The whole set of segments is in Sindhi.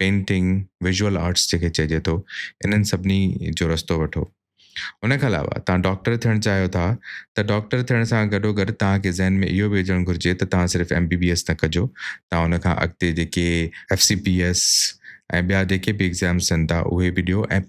پينٽنگ، ويزوئل آرٽس جيڪي چئجي ٿو، انهن سڀني جو رستو وٺو. ان کان علاوه توهان ڊاڪٽر ٿيڻ چاهيو ٿا ته ڊاڪٽر ٿيڻ سان گڏوگڏ توهان کي ذهن ۾ اهو به هجڻ گهرجي ته توهان صرف ايم بي بي ايس نه ڪجو، توهان ان کان اڳتي جيڪي ايف سي پي ايس ۽ ٻيا جيڪي به ايگزامس ٿين ٿا اهي به ڏيو ۽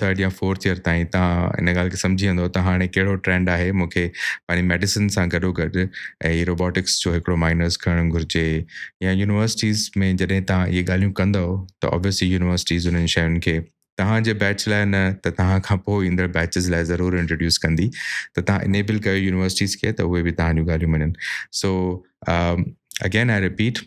ٿرڊ يا فورٿ ايئر تائين تان ان ڳالهه کي سمجهي ويندو ته هاڻي ڪهڙو ٽرينڊ آهي مونکي پنهنجي ميڊيسن سان گڏو گڏ هي روبوٽڪس جو هڪڙو مائنرز کڻڻ گهرجي يا يونيورسٽيز ۾ جڏهن تان اهي ڳالهيون ڪندو ته اوبيسلي يونيورسٽيز انهن شين کي توهان جي بيچ لاء نه ته توهان کان پوء ايندڙ بيچز لاء ضرور انٽروڊيوس ڪندي ته توهان انيبل ڪيو يونيورسٽيز کي ته اهي به توهان جون ڳالهيون مڃن سو اگين آء رپيٽ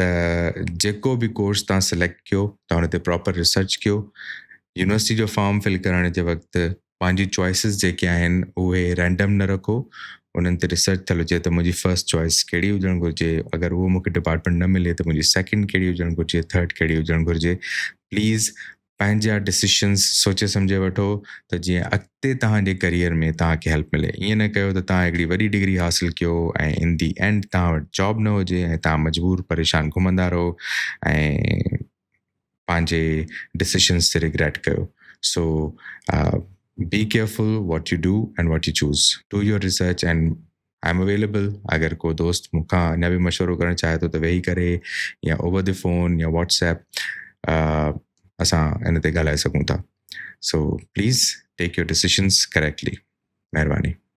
ته جيڪو به ڪورس تان سليڪٽ ڪيو تان ان تي پراپر ريسرچ ڪيو يونيورسٽي جو فارم فل ڪرڻ جي وقت پنهنجي چوائسز جيڪي آهن اهي رينڊم نه رکو انهن تي ريسرچ ٿيل هجي ته منهنجي فرسٽ چوائس ڪهڙي هجڻ گهرجي اگر اهو مونکي ڊپارٽمينٽ نه ملي ته منهنجي سيڪنڊ ڪهڙي هجڻ گهرجي ٿرڊ ڪهڙي هجڻ گهرجي پليز پنهنجا ڊسيشنس سوچي سمجهي وٺو ته جيئن اڳتي توهان جي ڪريئر ۾ توهان کي هيلپ ملي ائين نه ڪيو ته توهان هڪڙي وڏي ڊگري حاصل ڪيو ۽ ان دي اينڊ توهان وٽ جاب نه هجي ۽ توهان مجبور پريشان گهمندا رهو ۽ پنهنجي ڊسيشنس تي ريگريٽ ڪيو so be careful what you do and what you choose do your research and I'm available اگر ڪو دوست مون کان اڃا به مشورو ڪرڻ چاهي ٿو ته ويهي ڪري يا اوور دي فون يا واٽس ايپ اسان ان تي ڳالهائي سگهون ٿا so please take your decisions correctly مهرباني